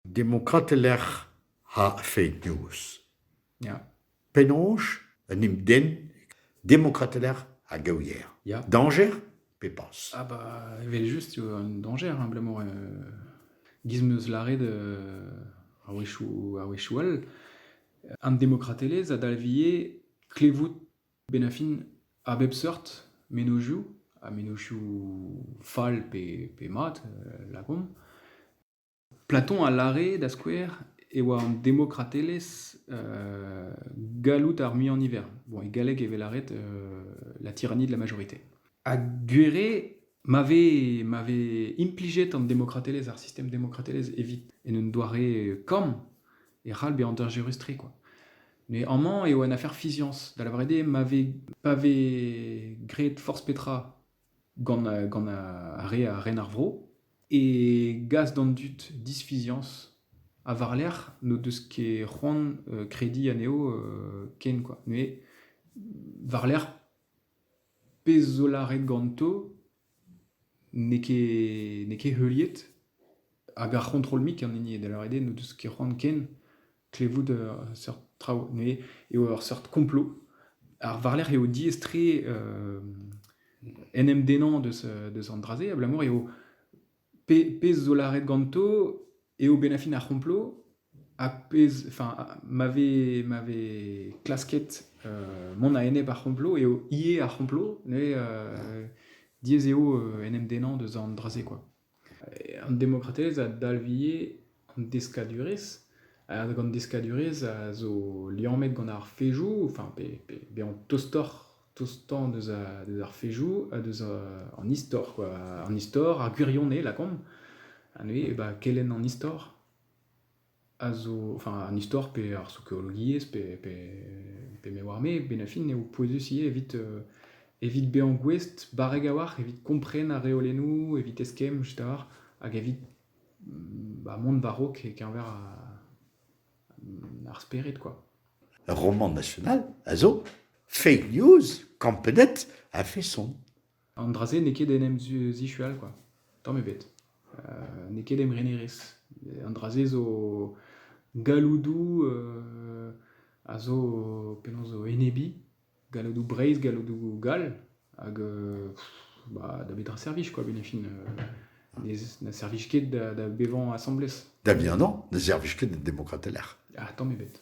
Demokratel ec'h a feiz-noz. Ya. Penaos un hepden demokratel ec'h a gaoier Ya. Dañjer pe pas Ah bah, evel-just eo un dañjer abalamour euh, giz meus lâret euh, a-wechoù a-wechoù all. An demokratelezh a dalvje klevout Bennafin, a bep seurt mennozhioù, ha mennozhioù fall pe pe mat, lakaomp. Platon a lâre, da skouer, e oa an demokratelezh galloud ar muiañ-niver. Bon, e galleg e vez lâret la tyrannie de la majorité. Ha gwir eo ma vez ma vez implijet an demokratelezh, ar sistem demokratelezh evit en un doare kamm, e c'hall bezañ hanter-gerus-tre quoi. Mais amañ eo un afer fiziañs, da lavaret eo ma vez, pa vez graet forzh petra gant, a- gant ar re a ren ar vro, e gas d'an dud disfiziañs ha war-lerc'h n'o deus ket c'hoant euh, krediñ anezho euh, ken quoi. Mais war-lerc'h pezh zo lâret ganto N'eo ket n'eo ket heuliet hag ar c'hontrol-mik an hini eo da lâret eo n'o deus ket c'hoant ken klevout seurt traoù neuze eo ur seurt komplo. Ar war-lerc'h eo diaes-tre en em dennañ deus deus an dra-se abalamour eo pezh zo lâret ganto eo bennafin ar c'homplot ha pezh enfin ma vez ma vez klasket mont a-enep ar c'homplot eo ivez ar c'homplot neuze diaes eo en em dennañ deus an dra-se quoi an demokratelezh a dalv ivez Deskadurezh, gant deskadurezh a zo liammet gant ar fezhioù, enfin pe bezañ tostoc'h tostañ deus ar fezhioù ha deus an istor kwa, an istor, ar gwirionez lakaomp, ha neuze bah kelenn an istor a zo, enfin an istor pe ar sokiologiezh pe me oar me, benn ar fin eo pouezus ivez evit evit bezañ gouest barrek a-walc'h evit kompren ar reolennoù, evit eskemm, etc. hag evit Ba mont war-raok e-keñver ar spered kwa. Ur romant national a zo Fake News Campenet a-feson. An dra-se n'eo ket en em zishual kwa, tamm ebet. n'eo ket em renerezh. An dra-se zo galloudoù a zo penaos zo enebiñ. galloudoù Breizh, galloudoù gall, hag bah, da betra servij quoi, Benefin ne, servij ket da, bevañ asambles. Da bihan ne servij ket da demokrat teler. Ah, tamm ebet.